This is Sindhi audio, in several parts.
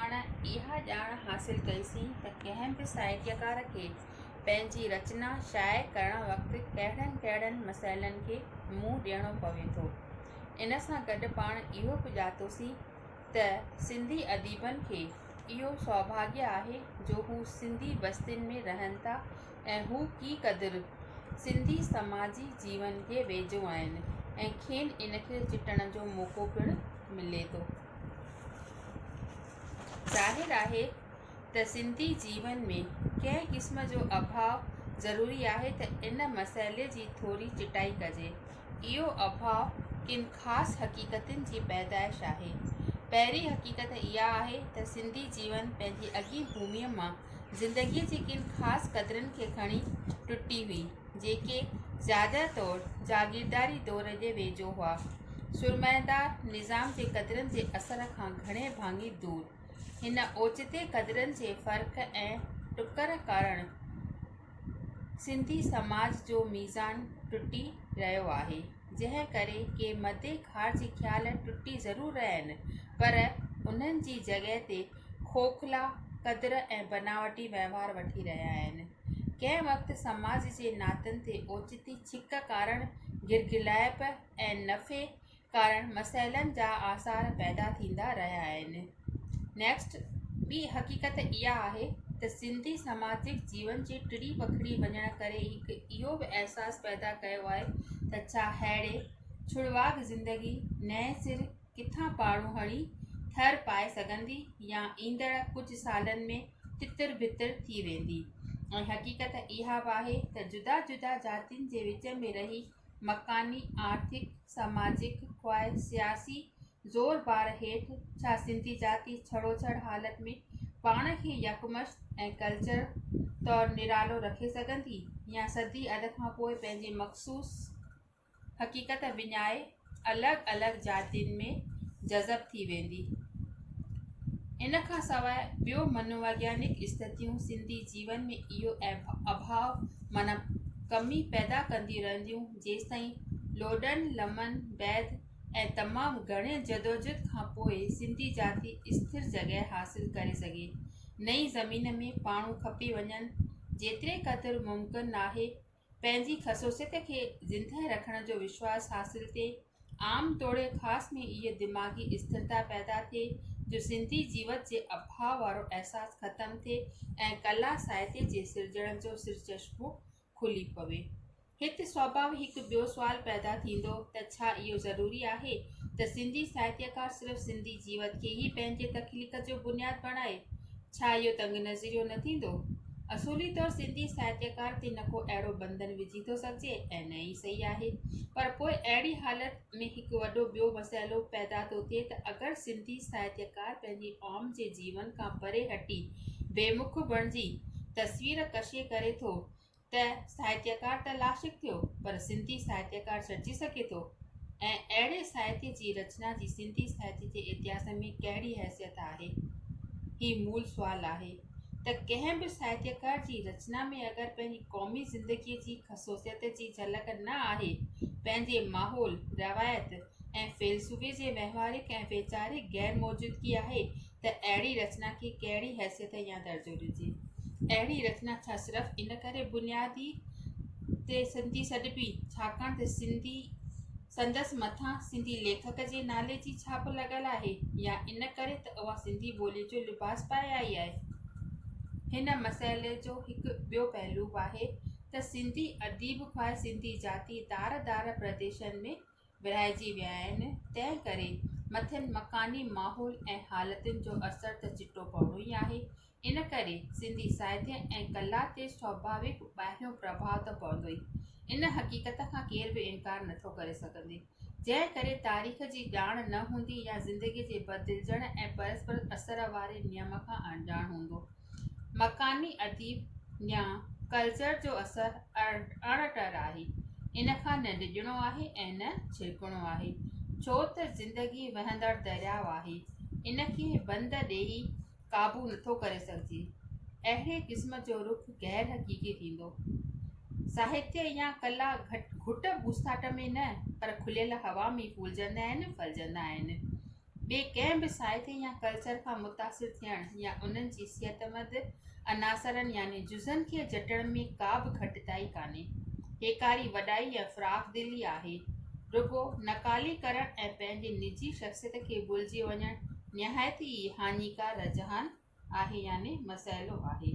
پاڻ اها ڄاڻ حاصل ڪئيسين ته ڪنهن به ساهتيڪار کي پنهنجي رچنا شايع ڪرڻ وقت ڪهڙن ڪهڙن مسئلن کي منهن ڏيڻو پوي ٿو. ان سان گڏ پاڻ اهو به ڄاتوسين ته سنڌي اديبن کي اهو سوڀاڳيه آهي جو هو سنڌي بستين ۾ رهن ٿا ۽ هو ڪي قدر سنڌي سماجي جيون کي ويجهو آهن ۽ کين ان کي چٽڻ جو موقعو پڻ ملي ٿو. ظاهر آهي ته سنڌي جيون ۾ ڪنهن قسم جو اڀاء ضروري آهي ته ان مسئلي جي ٿوري چٽائي ڪجي. اهو اڀاء ڪن خاص حقيقتن جي پيدائش آهي. پهرين حقيقت اها آهي ته سنڌي جيون پنهنجي اڳين ڀوميء مان زندگيء جي ڪن خاص قدرن کي کڻي ٽٽي هئي. جيڪي زياده طور جاگيرداري دور جي ويجهو هئا، سرمائيدار نظام جي قدرن جي اثر کان گهڻي ڀاڱي دور. هن اوچتي قدرن جي فرق ۽ ٽڪر ڪارڻ سنڌي سماج جو ميزان ٽٽي رهيو آهي، جنهن ڪري ڪي مدي خار جي خيال ٽٽي ضرور رهيا آهن، پر انهن جي جڳهه تي کوکلا قدر ۽ بناوٽي وهنوار وٺي رهيا آهن. ڪنهن وقت سماج جي ناتن تي اوچتي ڇڪ ڪارڻ گرگرلائپ ۽ نفي ڪارڻ مسئلن جا آثار پيدا ٿيندا رهيا آهن. Next، ٻي حقيقت اها آهي ته سنڌي سماجڪ جيون جي ٽڙي وکڙي وڃڻ ڪري هڪ اهو به احساس پيدا ڪيو آهي ته ڇا ههڙي ڇڙواڳ زندگي نئين سر ڪٿان پاڙون هڻي ٿر پائي سگهندي يا ايندڙ ڪجهه سالن ۾ تتر بتر ٿي ويندي ۽ حقيقت اها به آهي ته جدا جدا جاتين جي وچ ۾ رهي مڪاني آرٿڪ سماجڪ خواهه سياسي زور بار هيٺ ڇا سنڌي جاتي ڇڙو ڇڙ حالت ۾ پاڻ کي يڪمشت ۽ ڪلچر طور نرالو رکي سگهندي يا صدي اڌ کان پوء پنهنجي مخصوص حقيقت وڃائي الڳ الڳ جاتين ۾ جذب ٿي ويندي. ان کان سواء ٻيون منوويگيانڪ استٿيون سنڌي جيون ۾ اهو اڀاء معنيٰ ڪمي پيدا ڪنديون رهنديون جيستائين لوڏن لمن بعد ۽ تمام گهڻي جدوجھد کان پوء سنڌي جاتي استھر جڳهه حاصل ڪري سگهي نئين زمين ۾ پاڻو کپي وڃن جيتري قدر ممڪن ناهي پنهنجي خصوصيت کي زندهه رکڻ جو وشواس حاصل ٿئي عام توڙي خاص ۾ اهي دماغي استرتا پيدا ٿئي جو سنڌي جيوت جي اڀاء وارو احساس ختم ٿئي ۽ ڪلا ساهتي جي سرجڻ جو سر چشمو کلي پوي هت سوڀاوي هڪ ٻيو سوال پيدا ٿيندو ته ڇا اهو ضروري آهي ته سنڌي ساهتيڪار صرف سنڌي جيوت کي ئي پنهنجي تخليق جو بنياد بڻائي ڇا اهو تنگ نظريو نه ٿيندو؟ اصولي طور سنڌي ساهتيڪار تي نه ڪو اهڙو بندن وجهي ٿو سگهجي ۽ نه ئي صحيح آهي. پر پوء اهڙي حالت ۾ هڪ وڏو ٻيو مسئلو پيدا ٿو ٿئي ته اگر سنڌي ساهتيڪار پنهنجي عوام جي جيون کان پري هٽي بي مک بڻجي تصوير ڪشي ڪري ٿو ته ساهتيڪار ته لاشڪ ٿيو پر سنڌي ساهتيڪار سڏجي سگهي ٿو؟ ۽ اهڙي ساهتي جي رچنا جي سنڌي ساهتي جي اتهاس ۾ ڪهڙي حيثيت آهي؟ هي مول سوال آهي ته ڪنهن به ساهتيڪار جي رچنا ۾ اگر پنهنجي قومي زندگي جي خصوصيت جي جهلڪ نه آهي، پنهنجي ماحول، روايت ۽ فيلسوفي جي وهنواريڪ ۽ ويچاريڪ غير موجودگي آهي ته اهڙي رچنا کي ڪهڙي حيثيت يا درجو ڏجي. اهڙي رچنا ڇا صرف ان ڪري بنيادي تي سنڌي سڏبي ڇاڪاڻ ته سنڌي سندس مٿان سنڌي ليکڪ جي نالي جي ڇاپ لڳل آهي يا ان ڪري ته اها سنڌي ٻوليء جو لباس پائي آئي آهي. هن مسئلي جو هڪ ٻيو پهلو به آهي ته سنڌي اديب خواهه سنڌي جاتي دار دار پرديسن ۾ ورهائجي ويا آهن، تنهن ڪري مٿين مڪاني ماحول ۽ حالتن جو اثر ته چٽو پوڻو ئي آهي. ان ڪري سنڌي ساهتيه ۽ ڪلا تي سواڀاويڪ ٻاهريون پرڀاء ته پوندو ئي. ان حقيقت کان ڪير به انڪار نه ٿو ڪري سگهندي. جنهن ڪري تاريخ جي ڄاڻ نه هوندي يا زندگي جي بدلجڻ ۽ پرسپر اثر واري نيم کان اڻڄاڻ هوندو، مڪاني اديب يا ڪلچر جو اثر اڻ ٽر آهي ان کان نه ڊڄڻو آهي ۽ نه ڇرڪڻو آهي ڇو ته زندگي وهندڙ درياء آهي ان کي بند ڏيئي قابو نٿو ڪري سگهجي اهڙي قسم جو رخ غير حقيقي ٿيندو ساهتيه يا ڪلا گهٽ گهٽ ٻوساٽ ۾ نه پر کليل هوا ۾ ڦولجندا آهن ڦلجندا آهن ٻئي ڪنهن به سائتي يا ڪلچر کان متاثر ٿيڻ يا انهن جي صحتمند عناصرن يعني جزن کي جٽڻ ۾ ڪا به گهٽتائي ڪانهي هيڪاري وڏائي يا فراخ دلي آهي رڳو نقالي ڪرڻ ۽ پنهنجي نجي شخصيت کي ڀلجي وڃڻ نهايت ئي هاڃيڪار رجحان آهي يعني مسئلو آهي.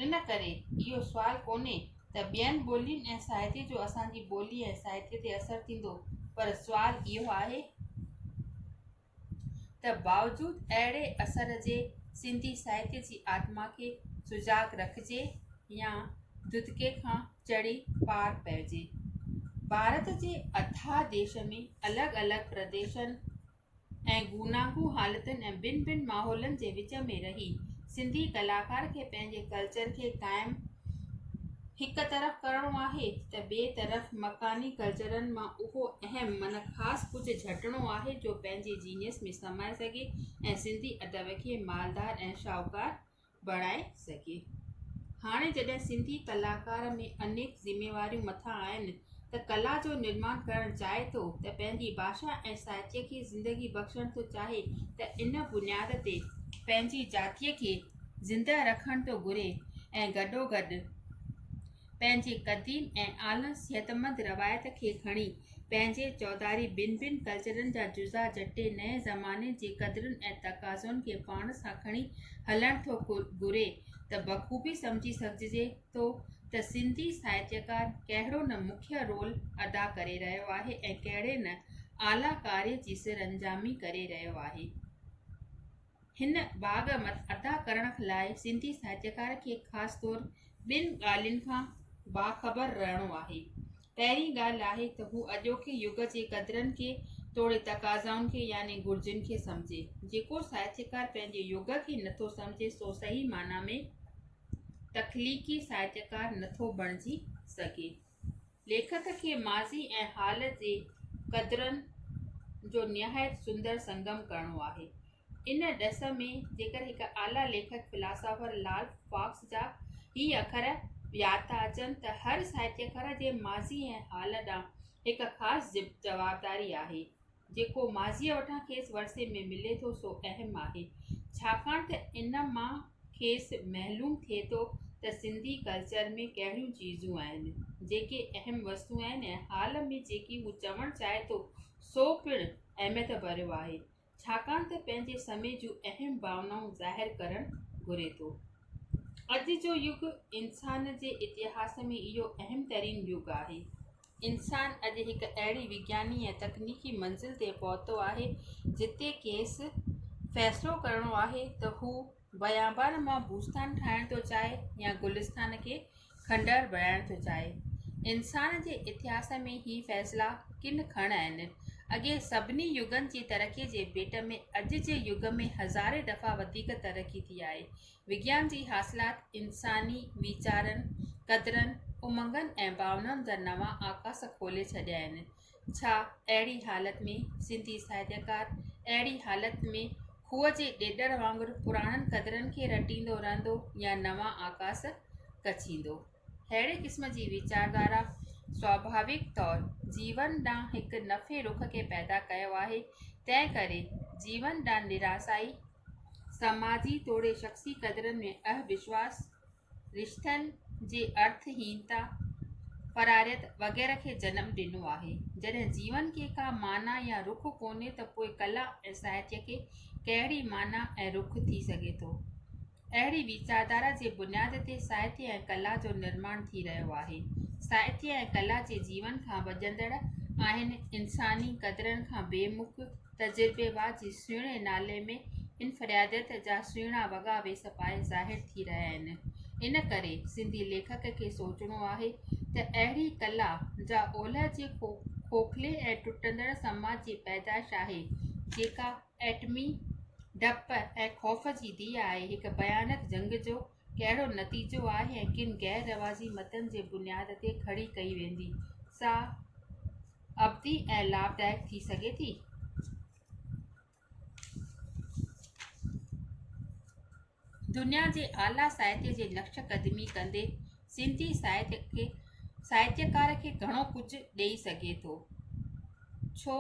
ان ڪري اهو سوال ڪونهي ته ٻين ٻولين ۽ ساهتي جو اسان جي ٻولي ۽ ساهتي تي اثر ٿيندو پر سوال اهو آهي ته باوجود اهڙي اثر جي سنڌي ساهتي جي آتما کي سجاڳ رکجي يا ددڪي کان چڙهي پار پئجي. ڀارت جي اٿاهه ديش ۾ الڳ الڳ پرديشن، ۽ گوناگون حالتن ۽ ڀن ڀن ماحولن جي وچ ۾ رهي سنڌي ڪلاڪار کي پنهنجي ڪلچر کي قائم هڪ طرف ڪرڻو آهي ته ٻي طرف مڪاني ڪلچرن مان اهو اهم من خاص ڪجهه جهٽڻو آهي جو پنهنجي جينيس ۾ سمائي سگهي ۽ سنڌي ادب کي مالدار ۽ شاهوڪار بڻائي سگهي. هاڻي جڏهن سنڌي ڪلاڪار ۾ انيڪ ذميواريون مٿان آهن ته ڪلا جو نرمان ڪرڻ چاهي ٿو ته پنهنجي ڀاشا ۽ ساهتيه کي زندگي بخشڻ ٿو چاهي ته ان بنياد تي پنهنجي جاتيء کي زنده رکڻ ٿو گهري ۽ گڏوگڏ پنهنجي قديم ۽ اعليٰ صحتمند روايت کي کڻي پنهنجي چوڌاري ٻن ٻن ڪلچرن جا جزا جٽي نئين زماني جي قدرن ۽ تقاضن کي پاڻ سان کڻي هلڻ ٿو گهري ته بخوبي سمجهي سگهجي ٿو ته سنڌي ساهتيڪار ڪهڙو نه مکيه رول ادا ڪري رهيو آهي ۽ ڪهڙي نه اعليٰ ڪاري جي سرانجامي ڪري رهيو آهي. هن باغ مت ادا ڪرڻ لاء سنڌي ساهتڪار کي خاص طور ٻن ڳالهين کان باخبر رهڻو آهي. پهرين ڳالهه آهي ته هو اڄوڪي يگ جي قدرن کي توڙي تقاضائن کي يعني گهرجين کي سمجهي. جيڪو ساهتڪار پنهنجي يگ کي نٿو سمجهي سو صحيح معنيٰ ۾ تخليقي ساهتڪار نٿو بڻجي سگهي. ليکڪ کي ماضي ۽ حال جي قدرن جو نهايت سندر سنگم ڪرڻو آهي. ان ڏس ۾ جيڪر هڪ اعليٰ ليکڪ فلاسافر لال فاڪس جا هي اکر ياد ٿا اچن ته هر ساهتيڪار جي ماضي ۽ حال ڏانهن هڪ خاص جوابداري آهي. جيڪو ماضيء وٽان کيس ورثي ۾ ملي ٿو سو اهم آهي، ڇاڪاڻ ته ان مان کيس معلوم ٿئي ٿو ته سنڌي ڪلچر ۾ ڪهڙيون چيزون آهن، جيڪي اهم وستون آهن ۽ حال ۾ جيڪي هو چوڻ چاهي ٿو سو پڻ اهميت ڀريو آهي، ڇاڪاڻ ته پنهنجي سمي جون اهم ڀاونائون ظاهر ڪرڻ گهري ٿو. اڄ جو يگ انسان جي اتهاس ۾ اهو اهم ترين يگ آهي. انسان اڄ هڪ اهڙي وگياني ۽ تڪنيڪي منزل تي پهتو آهي جتي کيس فيصلو ڪرڻو آهي ته هو بيابان مان بوستان ٺاهڻ ٿو چاهي يا گلستان کي کنڊر بڻائڻ ٿو چاهي. انسان جي اتهاس ۾ هي فيصلا ڪن کڻ آهن. اڳي سڀني يگن جي ترقي جي ڀيٽ ۾ اڄ جي يگ ۾ هزارين دفعا وڌيڪ ترقي ٿي آهي. وگيان جي حاصلات انساني ويچارن، قدرن، امنگن ۽ ڀاونائن جا نوان آڪاس کولي ڇڏيا آهن. ڇا اهڙي حالت ۾ سنڌي ساهتڪار اهڙي حالت ۾ کوهه جي ڏيڏر وانگر پراڻن قدرن کي رٽيندو رهندو يا نوان آڪاس ڪڇيندو؟ اهڙي قسم جي ويچاردارا سواڀاويڪ طور جيون ڏانهن هڪ نفي رخ کي پيدا ڪيو آهي تنهن ڪري جيون ڏانهن نراسائي سماجي توڙي شخصي قدرن ۾ اهوشواس رشتن جي ارٿ هينتا فراريت وغيره کي جنم ڏنو آهي جڏهن جيون کي ڪا معنيٰ يا رخ ڪونهي ته پوء ڪلا ۽ ساهتيه کي ڪهڙي معنيٰ ۽ رخ ٿي سگهي ٿو اهڙي ويچاردارا جي بنياد تي ساهتيه ۽ ڪلا جو نرماڻ ٿي رهيو آهي. ساهتيه ۽ ڪلا جي جيون کان وڄندڙ آهن انساني قدرن کان بي مک تجربيوار جي سهڻي نالي ۾ انفراديت جا سهڻا وڳا ويس پائي ظاهر ٿي رهيا آهن. ان ڪري سنڌي ليکڪ کي سوچڻو آهي ته اهڙي ڪلا جا اولهه جي کوکلي ۽ ٽٽندڙ سماج جي پيدائش آهي جيڪا ايٽمي ڊپ ۽ خوف جي ڌيء آهي، هڪ ڀيانڪ جنگ جو ڪهڙو نتيجو آهي ۽ ڪن غير رواجي متن جي بنياد تي کڙي ڪئي ويندي، سا ابدي ۽ لاڀدائڪ ٿي سگهي ٿي؟ دنيا جي اعليٰ ساهتيه جي نقش قدمي ڪندي سنڌي ساهتيڪار کي گهڻو ڪجهه ڏئي سگهي ٿو ڇو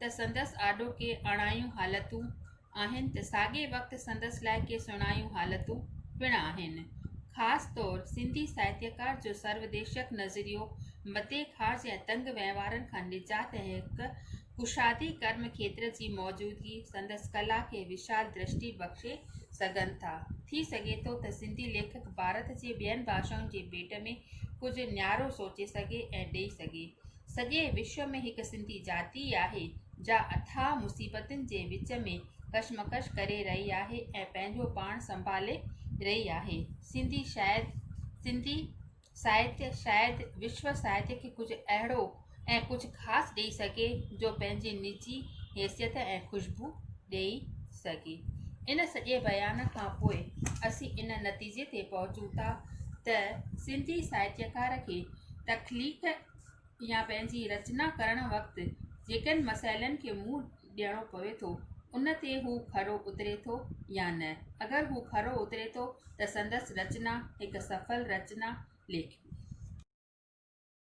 ته سندس آڏو ڪي اڻايون حالتون آهن ته ساڳي وقت سندس لاء ڪي سڻايون حالتون پڻ آهن خاص طور سنڌي ساهتيڪار جو سروديشڪ نظريو متي خاص يا تنگ وهنوارن کان نجات ۽ هڪ ڪشادي ڪرم کيتر جي موجودگي سندس ڪلا کي وشال درشٽي بخشي سگهن ٿا. ٿي سگهي ٿو ته سنڌي ليکڪ ڀارت جي ٻين ڀاشائن جي ڀيٽ ۾ ڪجهه نيارو سوچي سگهي ۽ ڏئي سگهي. سڄي وشو ۾ هڪ سنڌي جاتي ئي آهي، جا اٿاهه مصيبتن جي وچ ۾ ڪشمڪش ڪري رهي آهي ۽ پنهنجو پاڻ سنڀالي رهي آهي. سنڌي شايد سنڌي ساهتيه شايد وشو ساهتيه کي ڪجهه اهڙو ۽ ڪجهه خاص ڏئي سگهي جو پنهنجي نجي حيثيت ۽ خوشبو ڏئي سگهي ان سڄي بيان کان پوء اسين ان نتيجي تي پهچون ٿا ته سنڌي ساهتيڪار کي تخليق يا پنهنجي رچنا ڪرڻ وقت جيڪن مسئلن کي منهن ڏيڻو پوي ٿو، ان تي هو کرو اتري ٿو يا نه. اگر هو کرو اتري ٿو ته سندس رچنا هڪ سڦل رچنا ليکبي.